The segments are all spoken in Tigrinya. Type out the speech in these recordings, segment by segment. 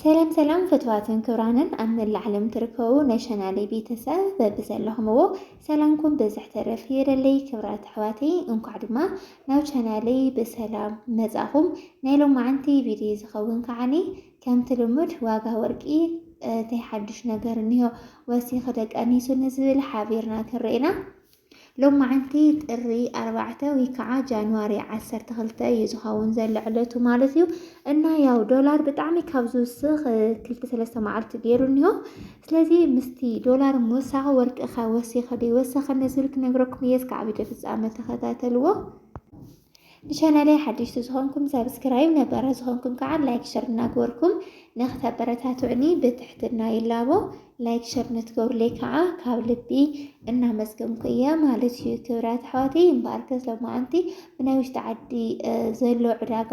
ሰላም ሰላም ፍትዋትን ክብራንን ኣብ መላእ ዓለም ትርከቡ ናይ ቻናለይ ቤተሰብ በብዘለኹምዎ ሰላምኩም ብዝሕ ተረፍ ይበለለይ። ክብራት ኣሕዋተይ እንኳዕ ድማ ናብ ቻናለይ ብሰላም መጻኹም። ናይ ሎማዓንቲ ቪድዮ ዝኸውን ከዓኒ ከምቲ ልሙድ ዋጋ ወርቂ እንታይ ሓዱሽ ነገር እኒሆ ወሲኺ ደቂ ኣንስትዮ ንዝብል ሓቢርና ክንርኤና ሎማዕንቲ ጥሪ ኣርባዕተ ወይ ከዓ ጃንዋሪ ዓሰርተ ክልተ እዩ ዝኸውን ዘሎ ዕለቱ ማለት እዩ እና ያው ዶላር ብጣዕሚ ካብ ዝውስኽ ክልተ ሰለስተ መዓልቲ ገይሩ እኒሆ ስለዚ ምስቲ ዶላር ምውሳኽ ወርቅኸ ወሲኸ ዘይወሰኸ ነዝብል ክነግረኩም እየ እስካዕ ቪድዮ ፍፃመ ተኸታተልዎ ንቻናለይ ሓደሽቲ ዝኾንኩም ሰብስክራይብ ነበረ ዝኾንኩም ከዓ ላይክ ሸር እናገበርኩም ንክተበረታትዑኒ ብትሕትና ይላቦ ላይክ ሸር ንትገብሩለይ ከዓ ካብ ልቢ እናመስገንኩ እየ ማለት እዩ ክብራት ኣሕዋተይ እምበኣርከ ሎማዓንቲ ብናይ ውሽጢ ዓዲ ዘሎ ዕዳጋ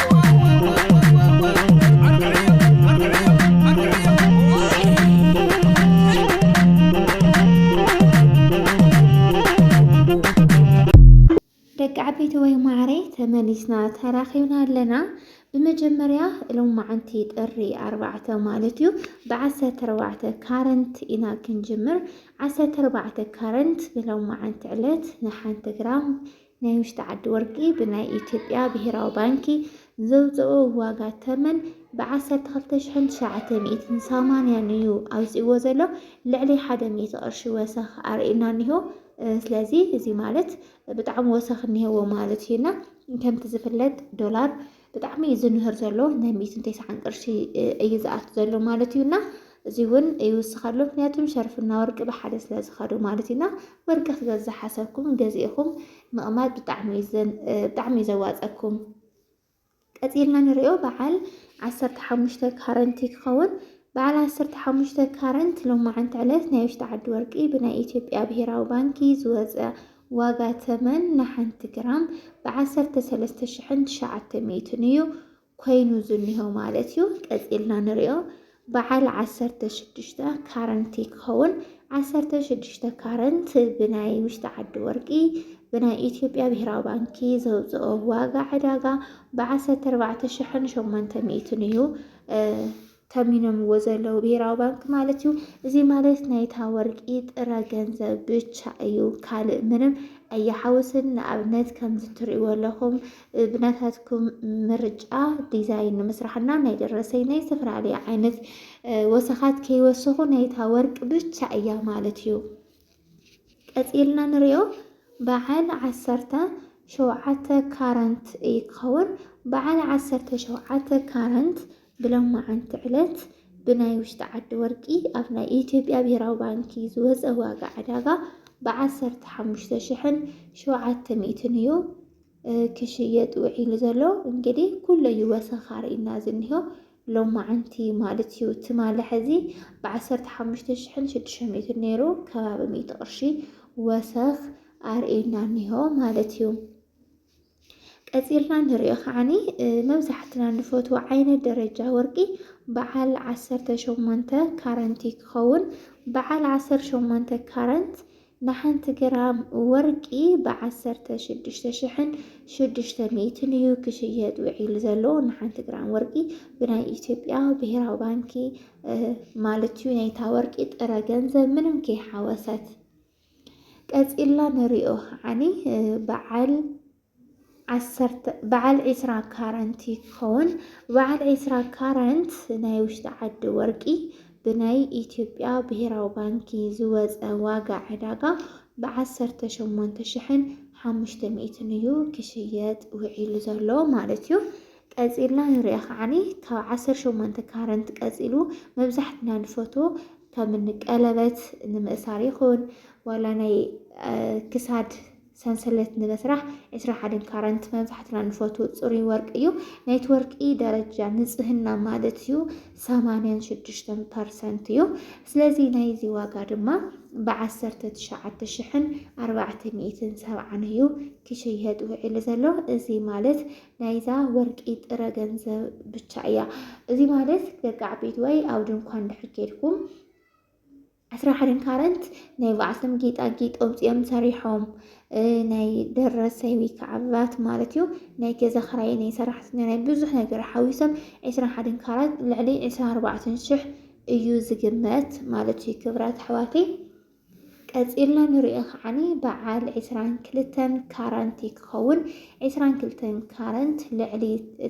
ደቂ ዓበይቲ ወይ ማዕረ ተመሊስና ተራኺብና ኣለና ብመጀመርያ እሎም መዓንቲ ጥሪ ኣርባዕተ ማለት እዩ ብዓሰርተ ኣርባዕተ ካረንት ኢና ክንጅምር ዓሰርተ ኣርባዕተ ካረንት ብሎም መዓንቲ ዕለት ንሓንቲ ግራም ናይ ውሽጢ ዓዲ ወርቂ ብናይ ኢትዮጵያ ብሄራዊ ባንኪ ዘውፀኦ ዋጋ ተመን ብ ዓሰርተ ክልተ ሽሕን ትሽዓተ ሚእትን ሰማንያን እዩ ኣውፂእዎ ዘሎ ልዕሊ ሓደ ሚእቲ ቅርሺ ወሰኽ ኣርእዩና እኒሆ ስለዚ እዚ ማለት ብጣዕሚ ወሰኽ እኒሄዎ ማለት እዩ እና ከምቲ ዝፍለጥ ዶላር ብጣዕሚ እዩ ዝንህር ዘሎ ናይ ሚእትን ቴስዓን ቅርሺ እዩ ዝኣቱ ዘሎ ማለት እዩና እዚ እውን ይውስኻሉ ምክንያቱም ሸርፍና ወርቂ ብሓደ ስለ ዝኸዱ ማለት እዩና ወርቂ ክገዝ ዝሓሰብኩም ገዚእኹም ምቕማጥ ብጣዕሚ እዩ ዘዋፀኩም ቀፂልና ንሪኦ በዓል ዓሰርተ ሓሙሽተ ካረንቲ ክኸውን በዓል ዓሰርተ ሓሙሽተ ካረንት ሎማዓንቲ ዕለት ናይ ውሽጢ ዓዲ ወርቂ ብናይ ኢትዮጵያ ብሄራዊ ባንኪ ዝወፀ ዋጋ ተመን ንሓንቲ ግራም ብ ዓሰርተ ሰለስተ ሽሕን ትሽዓተ ሚእትን እዩ ኮይኑ ዝኒሆ ማለት እዩ። ቀጺልና ንሪኦ በዓል ዓሰርተ ሽዱሽተ ካረንቲ ክኸውን ዓሰርተ ሽዱሽተ ካረንት ብናይ ውሽጢ ዓዲ ወርቂ ብናይ ኢትዮጵያ ብሄራዊ ባንኪ ዘውፅኦ ዋጋ ዕዳጋ ብዓሰርተ ኣርባዕተ ሽሕን ሸሞንተ ሚእትን እዩ። ተሚኖምዎ ዘለዉ ብሄራዊ ባንኪ ማለት እዩ። እዚ ማለት ናይታ ወርቂ ጥረ ገንዘብ ብቻ እዩ፣ ካልእ ምንም ኣየሓውስን። ንኣብነት ከምዚ ትርእይዎ ኣለኹም ብናታትኩም ምርጫ ዲዛይን ንምስራሕና ናይ ደረሰኝ ናይ ዝተፈላለዩ ዓይነት ወሰኻት ከይወሰኹ ናይታ ወርቂ ብቻ እያ ማለት እዩ። ቀጺልና ንሪኦ በዓል ዓሰርተ ሸውዓተ ካረንት እዩ ክኸውን። በዓል ዓሰርተ ሸውዓተ ካረንት ብሎማዓንቲ ዕለት ብናይ ውሽጢ ዓዲ ወርቂ ኣብ ናይ ኢትዮጵያ ብሄራዊ ባንኪ ዝወፀ ዋጋ ዕዳጋ ብዓሰርተ ሓሙሽተ ሽሕን ሸውዓተ ሚእትን እዩ ክሽየጥ ውዒሉ ዘሎ። እንግዲህ ኩለዩ ወሰኻሪ እና ዝኒሆ ሎማዓንቲ ማለት እዩ ትማሊ ሕዚ ብዓሰርተ ሓሙሽተ ሽሕን ሽዱሽተ ሚእትን ነይሩ ከባቢ ሚእቲ ቅርሺ ወሰኽ ኣርእየና እኒሆ ማለት እዩ። ቀፂልና ንሪኦ ከዓኒ መብዛሕትና ንፈትዎ ዓይነት ደረጃ ወርቂ በዓል ዓሰርተ ሸሞንተ ካረንቲ ክኸውን በዓል ዓሰርተ ሸሞንተ ካረንት ንሓንቲ ግራም ወርቂ ብ ዓሰርተ ሽዱሽተ ሽሕን ሽዱሽተ ሚእትን እዩ ክሽየጥ ውዒሉ ዘሎ። ንሓንቲ ግራም ወርቂ ብናይ ኢትዮጵያ ብሄራዊ ባንኪ ማለት እዩ ናይታ ወርቂ ጥረ ገንዘብ ምንም ከይሓወሰት ቀጺልና ንሪኦ ከዓኒ በዓል ዓሰርተ በዓል ዒስራ ካራንት ይኸውን። በዓል ዒስራ ካራንት ናይ ውሽጢ ዓዲ ወርቂ ብናይ ኢትዮጵያ ብሄራዊ ባንኪ ዝወፀ ዋጋ ዕዳጋ ብዓሰርተ ሸሞንተ ሽሕን ሓሙሽተ ሚእትን እዩ ክሽየጥ ውዒሉ ዘሎ ማለት እዩ። ቀፂልና ንሪኦ ከዓኒ ካብ ዓሰርተ ሸሞንተ ካረንት ቀፂሉ መብዛሕትና ንፈቶ ከም ቀለበት ንምእሳር ይኹን ዋላ ናይ ክሳድ ሰንሰለት ንምስራሕ ዕስራ ሓደን ካራንት መብዛሕትና ንፈትዎ ጽሩይ ወርቂ እዩ። ናይቲ ወርቂ ደረጃ ንጽህና ማለት እዩ ሰማንያን ሽዱሽተን ፐርሰንት እዩ። ስለዚ ናይዚ ዋጋ ድማ ብዓሰርተ ትሽዓተ ሽሕን ኣርባዕተ ሚእትን ሰብዓን እዩ ክሽየጥ ውዒሉ ዘሎ። እዚ ማለት ናይዛ ወርቂ ጥረ ገንዘብ ብቻ እያ። እዚ ማለት ደቂ ዓበይቲ ወይ ኣብ ድንኳን ድሕር ኬድኩም ዕስራ ሓደ ካረንት ናይ ባዕልቶም ጌጣጌጥ ኣውፂኦም ሰሪሖም ናይ ደረሰይ ወይ ከዓ ቫት ማለት እዩ ናይ ገዛ ክራይ ናይ ሰራሕተኛ ናይ ብዙሕ ነገር ሓዊሶም ዕስራ ሓደ ካራት ልዕሊ ዕስራ ኣርባዕተ ሽሕ እዩ ዝግመት ማለት እዩ ክብራት ኣሕዋተይ ቀፂልና ንሪኦ ከዓኒ በዓል ዕስራን ክልተን ካራንቲ ክኸውን ዕስራን ክልተን ካረንት ልዕሊ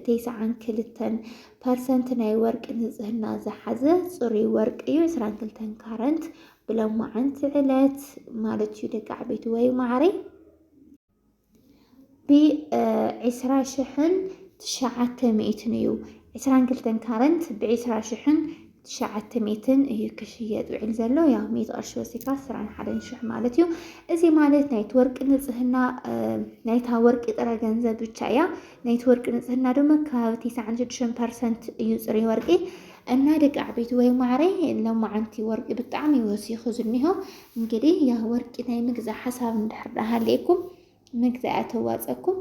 ተስዓን ክልተን ፐርሰንት ናይ ወርቂ ንጽህና ዝሓዘ ጽሩይ ወርቂ እዩ። ዕስራን ክልተን ካረንት ብሎማዓንቲ ዕለት ማለት እዩ ደቂ ዓበይቲ ወይ ማዕረይ ብዒስራ ሽሕን ትሽዓተ ሚእትን እዩ። ዕስራን ክልተን ካረንት ብዒስራ ሽሕን ትሽዓተ ሚእትን እዩ ክሽየጥ ውዒል ዘሎ ያው ሚእቲ ቅርሺ ወሲድካ ስራን ሓደን ሽሕ ማለት እዩ። እዚ ማለት ናይቲ ወርቂ ንጽህና ናይታ ወርቂ ጥረ ገንዘብ ብቻ እያ። ናይቲ ወርቂ ንጽህና ድማ ከባቢ ትስዓን ሽዱሽተን ፐርሰንት እዩ ጽሩይ ወርቂ እና ደቂ ዓበይቲ ወይ ማዕረይ ለማዓንቲ ወርቂ ብጣዕሚ ወሲኹ ዝኒሆ እንግዲህ ያ ወርቂ ናይ ምግዛ ሓሳብ እንድሕር ዳሃለየኩም ምግዚ ኣየተዋፀኩም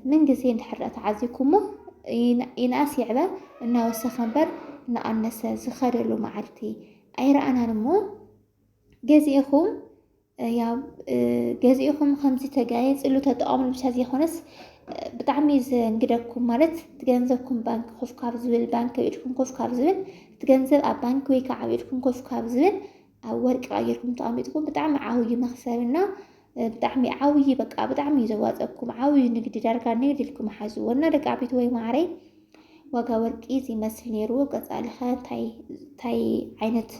ምን ግዜ እንድሕር ተዓዚኩሞ ይንኣስ ይዕበ እናወሰኸ እምበር እናኣነሰ ዝኸደሉ መዓልቲ ኣይረኣናን እሞ ገዚእኹም ያው ገዚእኹም ከምዚ ተጋየፅሉ ተጠቐምሉ ብቻ ዘይኮነስ ብጣዕሚ ዘንግደኩም ማለት እቲ ገንዘብኩም ባንክ ኮፍ ካብ ዝብል ባንክ ኣብ ኢድኩም ኮፍ ካብ ዝብል እቲ ገንዘብ ኣብ ባንክ ወይ ከዓ ኣብ ኢድኩም ኮፍ ካብ ዝብል ኣብ ወርቂ ቀይርኩም ተቐሚጥኩም ብጣዕሚ ዓብዪ መኽሰብና ብጣዕሚ ዓብዪ በቃ ብጣዕሚ እዩ ዘዋፀኩም ዓብዪ ንግዲ ዳርጋ ንግዲ ኢልኩም ሓዝዎ እና ደቂ ዓበይቲ ወይ ማዕረይ ዋጋ ወርቂ እዚ ይመስል ነይሩ ቀፃልኸ እንታይ ዓይነት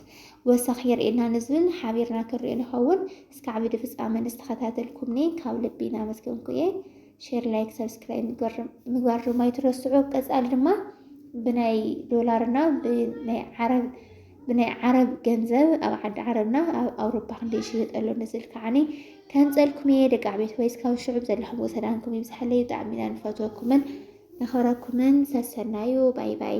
ወሰኽ የርእየና ንዝብል ሓቢርና ክንሪኦ ንኸውን እስከ ዓብዲ ፍፃመ ንዝተኸታተልኩምኒ ካብ ልቢ እናመስገንኩ እየ ሼር ላይክ ሰብስክራይብ ምግባር ድማ ይትረስዑ ቀፃሊ ድማ ብናይ ዶላርና ብናይ ዓረብ ብናይ ዓረብ ገንዘብ ኣብ ዓዲ ዓረብና ኣብ ኣውሮፓ ክንደይ ይሽየጥ ኣሎ ንዝል ከዓኒ ከምፀልኩም እየ ደቂ ዓቤት ወይስ ካብ ሽዑብ ዘለኹም ወሰዳንኩም ይብዝሓለይ ብጣዕሚ ኢና ንፈትወኩምን ነኸብረኩምን ሰሰናዩ ባይ ባይ